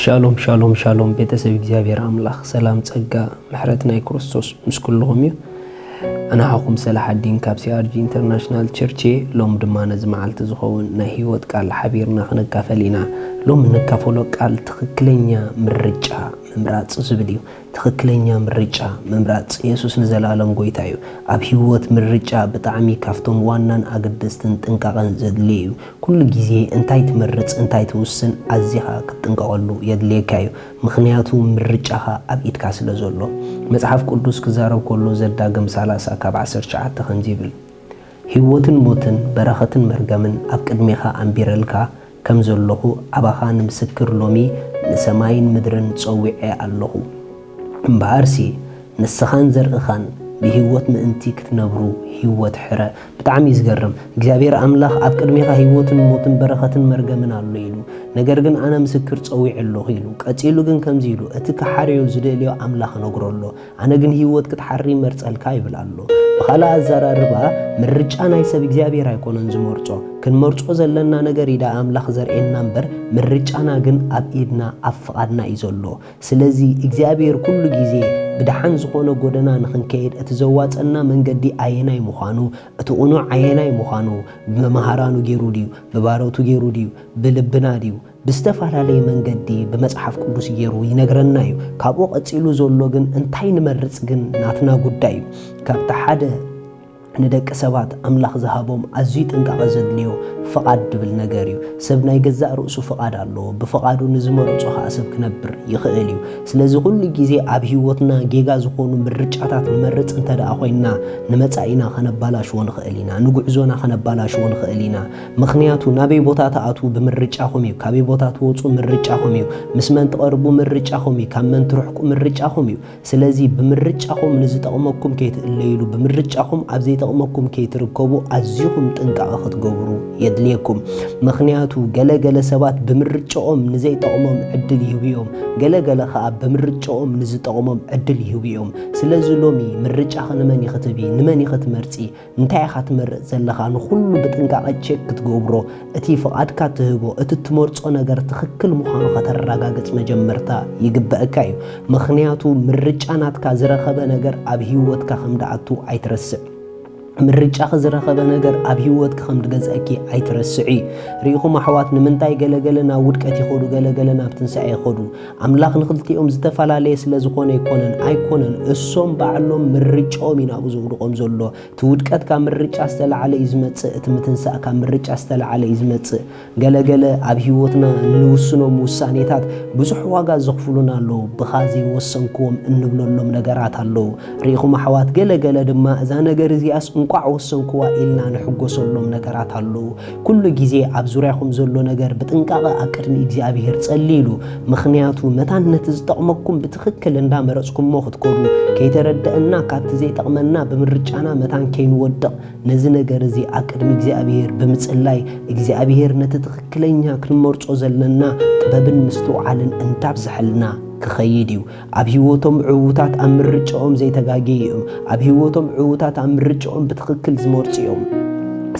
ሻሎም ሻሎም ሻሎም ቤተሰብ እግዚኣብሔር ኣምላኽ ሰላም ጸጋ ምሕረት ናይ ክርስቶስ ምስ ኩልኹም እዩ ኣናሓኹም ሰላሓዲን ካብ ሲኣርጂ ኢንተርናሽናል ቸርች እየ ሎም ድማ ነዚ መዓልቲ ዝኸውን ናይ ህይወት ቃል ሓቢርና ክነካፈል ኢና ሎም እንካፈሎ ቃል ትኽክለኛ ምርጫ ምምራጽ ዝብል እዩ ትኽክለኛ ምርጫ ምምራጽ። የሱስ ንዘለኣለም ጎይታ እዩ። ኣብ ህይወት ምርጫ ብጣዕሚ ካብቶም ዋናን ኣገደስትን ጥንቃቐን ዘድልዮ እዩ። ኩሉ ግዜ እንታይ ትመርጽ እንታይ ትውስን ኣዚኻ ክትጥንቀቐሉ የድልየካ እዩ። ምኽንያቱ ምርጫኻ ኣብ ኢድካ ስለ ዘሎ። መጽሓፍ ቅዱስ ክዛረብ ከሎ ዘዳግም ሰላሳ ካብ ዓሰርተ ትሽዓተ ከምዚ ይብል፣ ህይወትን ሞትን በረኸትን መርገምን ኣብ ቅድሜኻ ኣንቢረልካ፣ ከም ዘሎኹ ኣባኻ ንምስክር ሎሚ ንሰማይን ምድርን ጸዊዐ ኣሎኹ። እምበኣርሲ ንስኻን ዘርእኻን ብህይወት ምእንቲ ክትነብሩ ህይወት ሕረ። ብጣዕሚ እዩ ዝገርም እግዚኣብሔር ኣምላኽ ኣብ ቅድሜኻ ህይወትን ሞትን በረኸትን መርገምን ኣሎ ኢሉ ነገር ግን ኣነ ምስክር ጸዊዐ ኣሎኹ ኢሉ ቀጺሉ ግን ከምዚ ኢሉ እቲ ክሓርዮ ዝደልዮ ኣምላኽ እነግሮ ኣሎ ኣነ ግን ህይወት ክትሓሪ ይመርጸልካ ይብል ኣሎ። ብኻልእ ኣዘራርባ ምርጫ ናይ ሰብ እግዚኣብሔር ኣይኮነን ዝመርጾ። ክንመርጾ ዘለና ነገር ኢዳ ኣምላኽ ዘርእየና እምበር ምርጫና ግን ኣብ ኢድና ኣብ ፍቓድና እዩ ዘሎ። ስለዚ እግዚኣብሔር ኩሉ ግዜ ብደሓን ዝኾነ ጎደና ንኽንከይድ እቲ ዘዋጸና መንገዲ ኣየናይ ምዃኑ እቲ ቕኑዕ ኣየናይ ምዃኑ ብመምሃራኑ ጌሩ ድዩ ብባሮቱ ጌሩ ድዩ ብልብና ድዩ ብዝተፈላለየ መንገዲ ብመጽሓፍ ቅዱስ ገይሩ ይነግረና እዩ። ካብኡ ቀጺሉ ዘሎ ግን እንታይ ንመርጽ ግን ናትና ጉዳይ እዩ። ካብቲ ሓደ ንደቂ ሰባት ኣምላኽ ዝሃቦም ኣዝዩ ጥንቃቐ ዘድልዮ ፍቓድ ድብል ነገር እዩ። ሰብ ናይ ገዛእ ርእሱ ፍቓድ ኣለዎ፣ ብፍቓዱ ንዝመረጾ ኸኣ ሰብ ክነብር ይኽእል እዩ። ስለዚ ኩሉ ግዜ ኣብ ህይወትና ጌጋ ዝኾኑ ምርጫታት ንመርጽ እንተድኣ ኮይንና ንመጻኢና ከነባላሽዎ ንኽእል ኢና፣ ንጉዕዞና ከነባላሽዎ ንኽእል ኢና፣ ምኽንያቱ ናበይ ቦታ ትኣትዉ ብምርጫኹም እዩ፣ ካበይ ቦታ ትወጹ ምርጫኹም እዩ፣ ምስ መን ትቐርቡ ምርጫኹም እዩ፣ ካብ መን ትርሕቁ ምርጫኹም እዩ። ስለዚ ብምርጫኹም ንዝጠቕመኩም ከይትእለይሉ፣ ብምርጫኹም ኣብ ዘይጠቕመኩም ከይትርከቡ ኣዚኹም ጥንቃቐ ክትገብሩ የድልየኩም። ምኽንያቱ ገለ ገለ ሰባት ብምርጭኦም ንዘይጠቕሞም ዕድል ይህቡ እዮም፣ ገለ ገለ ከኣ ብምርጭኦም ንዝጠቕሞም ዕድል ይህቡ እዮም። ስለዚ ሎሚ ምርጫኺ ንመን ኢኺ ትህቢ፣ ንመን ኢኺ ትመርጺ፣ እንታይ ኢኻ ትመርጽ ዘለኻ ንኹሉ ብጥንቃቐ ቼክ ክትገብሮ፣ እቲ ፍቓድካ ትህቦ፣ እቲ ትመርጾ ነገር ትኽክል ምዃኑ ከተራጋግጽ መጀመርታ ይግበእካ እዩ። ምኽንያቱ ምርጫ ናትካ ዝረኸበ ነገር ኣብ ህይወትካ ከም ድኣቱ ኣይትረስዕ። ምርጫኺ ዝረኸበ ነገር ኣብ ህይወትኪ ከም ድገዝኣኪ ኣይትረስዒ። ርኢኹም ኣሕዋት ንምንታይ ገለ ገለ ናብ ውድቀት ይኸዱ ገለ ገለ ናብ ትንሳኤ ይኸዱ? ኣምላኽ ንኽልቲኦም ዝተፈላለየ ስለ ዝኾነ ኣይኮነን ኣይኮነን እሶም ባዕሎም ምርጫኦም እዩ ናብኡ ዘውድቖም ዘሎ እቲ ውድቀት ካብ ምርጫ ዝተላዕለ እዩ ዝመጽእ እቲ ምትንሳእ ካብ ምርጫ ዝተላዕለ እዩ ዝመጽእ ገለገለ ኣብ ህይወትና እንውስኖም ውሳኔታት ብዙሕ ዋጋ ዘኽፍሉና ኣለዉ ብኻ ዘይወሰንክዎም እንብለሎም ነገራት ኣለዉ ርኢኹም ኣሕዋት ገለገለ ድማ እዛ ነገር እዚኣስ እንቋዕ ወሰንክዋ ኢልና ንሕጎሰሎም ነገራት ኣለዉ ኩሉ ግዜ ኣብ ዙርያኹም ዘሎ ነገር ብጥንቃቐ ኣብ ቅድሚ እግዚኣብሄር ጸልይሉ፣ ምኽንያቱ መታን ነቲ ዝጠቕመኩም ብትኽክል እንዳ መረጽኩሞ ክትከዱ፣ ከይተረደእና ካብቲ ዘይጠቕመና ብምርጫና መታን ከይንወድቕ ነዚ ነገር እዚ ኣብ ቅድሚ እግዚኣብሄር ብምጽላይ እግዚኣብሄር ነቲ ትኽክለኛ ክንመርጾ ዘለና ጥበብን ምስትውዓልን እንዳብዘሐልና ክኸይድ እዩ። ኣብ ህይወቶም ዕዉታት ኣብ ምርጫኦም ዘይተጋገዩ እዮም። ኣብ ህይወቶም ዕዉታት ኣብ ምርጫኦም ብትኽክል ዝመርጹ እዮም።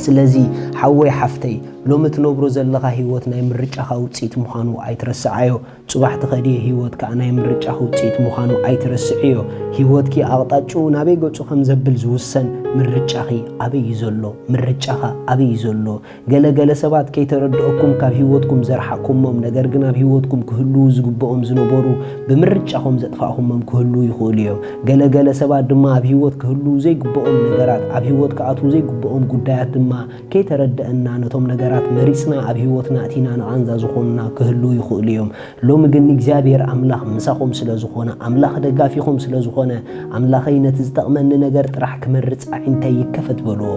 ስለዚ ሓወይ ሓፍተይ ሎሚ እትነብሮ ዘለኻ ህይወት ናይ ምርጫኻ ውጽኢት ምዃኑ ኣይትረስዓዮ። ጽባሕ ትኸድዮ ህይወት ከኣ ናይ ምርጫኺ ውጽኢት ምዃኑ ኣይትረስዕዮ። ህይወትኪ ኣቕጣጭኡ ናበይ ገጹ ከም ዘብል ዝውሰን ምርጫኺ ኣበይ እዩ ዘሎ? ምርጫኻ ኣበይ እዩ ዘሎ? ገለ ገለ ሰባት ከይተረድኦኩም ካብ ሂወትኩም ዘርሓቅኩሞም ነገር ግን ኣብ ሂወትኩም ክህልዉ ዝግብኦም ዝነበሩ ብምርጫኹም ዘጥፋእኹሞም ክህልዉ ይኽእሉ እዮም። ገለ ገለ ሰባት ድማ ኣብ ሂወት ክህልዉ ዘይግብኦም ነገራት ኣብ ሂወት ክኣትዉ ዘይግብኦም ጉዳያት ድማ ከይተረደእና ነቶም ነገራት መሪጽና ኣብ ሂወትና ኣእቲና ንቓንዛ ዝኾኑና ክህልዉ ይኽእሉ እዮም። ሎሚ ግን እግዚኣብሄር ኣምላኽ ምሳኹም ስለ ዝኾነ ኣምላኽ ደጋፊኹም ስለ ዝኾነ ኣምላኸይ ነቲ ዝጠቕመኒ ነገር ጥራሕ ክመርጽ ኣዒንተይ ይከፈት በልዎ።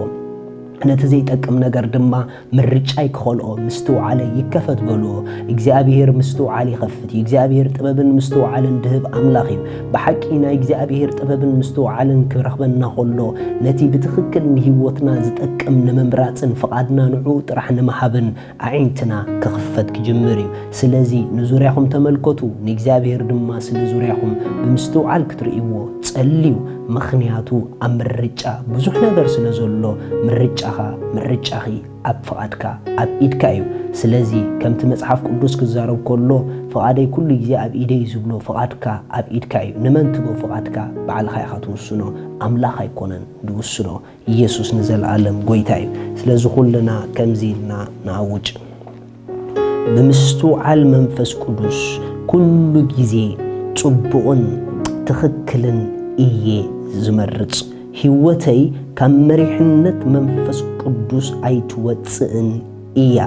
ነቲ ዘይጠቅም ነገር ድማ ምርጫይ ክኸልኦ ምስትውዓለይ ይከፈት በልዎ። እግዚኣብሄር ምስትውዓል ይኸፍት እዩ። እግዚኣብሄር ጥበብን ምስትውዓልን ድህብ ኣምላኽ እዩ። ብሓቂ ናይ እግዚኣብሄር ጥበብን ምስትውዓልን ክረኽበና ከሎ ነቲ ብትኽክል ንህይወትና ዝጠቅም ንምምራጽን ፍቓድና ንዕኡ ጥራሕ ንምሃብን ኣዒንትና ክኽፈት ክጅምር እዩ። ስለዚ ንዙርያኹም ተመልከቱ፣ ንእግዚኣብሄር ድማ ስለ ዙርያኹም ብምስትውዓል ክትርእይዎ ጸልዩ፣ ምኽንያቱ ኣብ ምርጫ ብዙሕ ነገር ስለ ዘሎ፣ ምርጫኻ፣ ምርጫኺ፣ ኣብ ፍቓድካ፣ ኣብ ኢድካ እዩ። ስለዚ ከምቲ መጽሓፍ ቅዱስ ክዛረብ ከሎ ፍቓደይ ኩሉ ግዜ ኣብ ኢደይ እዩ ዝብሎ፣ ፍቓድካ ኣብ ኢድካ እዩ። ንመን ትቦ ፍቓድካ ባዕልኻ ኢኻ ትውስኖ፣ ኣምላኽ ኣይኮነን ዝውስኖ። ኢየሱስ ንዘልኣለም ጎይታ እዩ። ስለዚ ኩልና ከምዚ ኢልና ንኣውጅ ብምስትውዓል መንፈስ ቅዱስ ኩሉ ግዜ ጽቡቕን ትኽክልን እየ ዝመርጽ። ሕይወተይ ካብ መሪሕነት መንፈስ ቅዱስ ኣይትወጽእን እያ።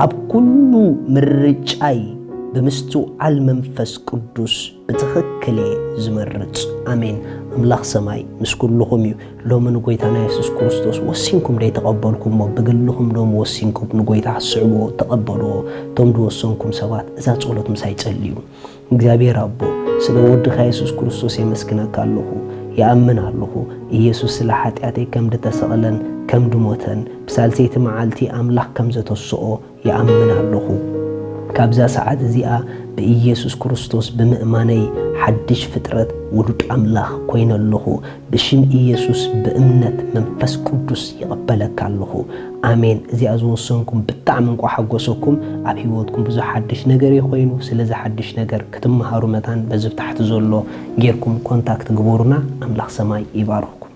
ኣብ ኩሉ ምርጫይ ብምስትውዓል መንፈስ ቅዱስ ብትኽክል እየ ዝመርጽ። ኣሜን! ኣምላኽ ሰማይ ምስ ኩሉኹም እዩ። ሎሚ ንጎይታና የሱስ ክርስቶስ ወሲንኩም ደይ ተቐበልኩሞ? ብግልኹም ሎሚ ወሲንኩም ንጎይታ ክትስዕብዎ ተቐበልዎ። እቶም ዝወሰንኩም ሰባት እዛ ጸሎት ምሳይ ጸልዩ። እግዚኣብሔር ኣቦ ስለ ወድኻ የሱስ ክርስቶስ የመስግነካ ኣለኹ። ይኣምን ኣለኹ ኢየሱስ ስለ ሓጢኣተይ ከም ድተሰቕለን ከም ድሞተን ብሳልሰይቲ መዓልቲ ኣምላኽ ከም ዘተስኦ ይኣምን ኣሎኹ። ካብዛ ሰዓት እዚኣ ብኢየሱስ ክርስቶስ ብምእማነይ ሓድሽ ፍጥረት ውሉድ ኣምላኽ ኮይነ ኣሎኹ። ብሽም ኢየሱስ ብእምነት መንፈስ ቅዱስ ይቕበለካ ኣሎኹ። ኣሜን እዚኣ ዝወሰንኩም ብጣዕሚ እንቋዕ ሓጎሰኩም ኣብ ሕይወትኩም ብዙሕ ሓድሽ ነገር እዩ ኮይኑ ስለዚ ሓድሽ ነገር ክትመሃሩ መታን በዚ ብታሕቲ ዘሎ ጌርኩም ኮንታክት ግበሩና ኣምላኽ ሰማይ ይባርኽኩም።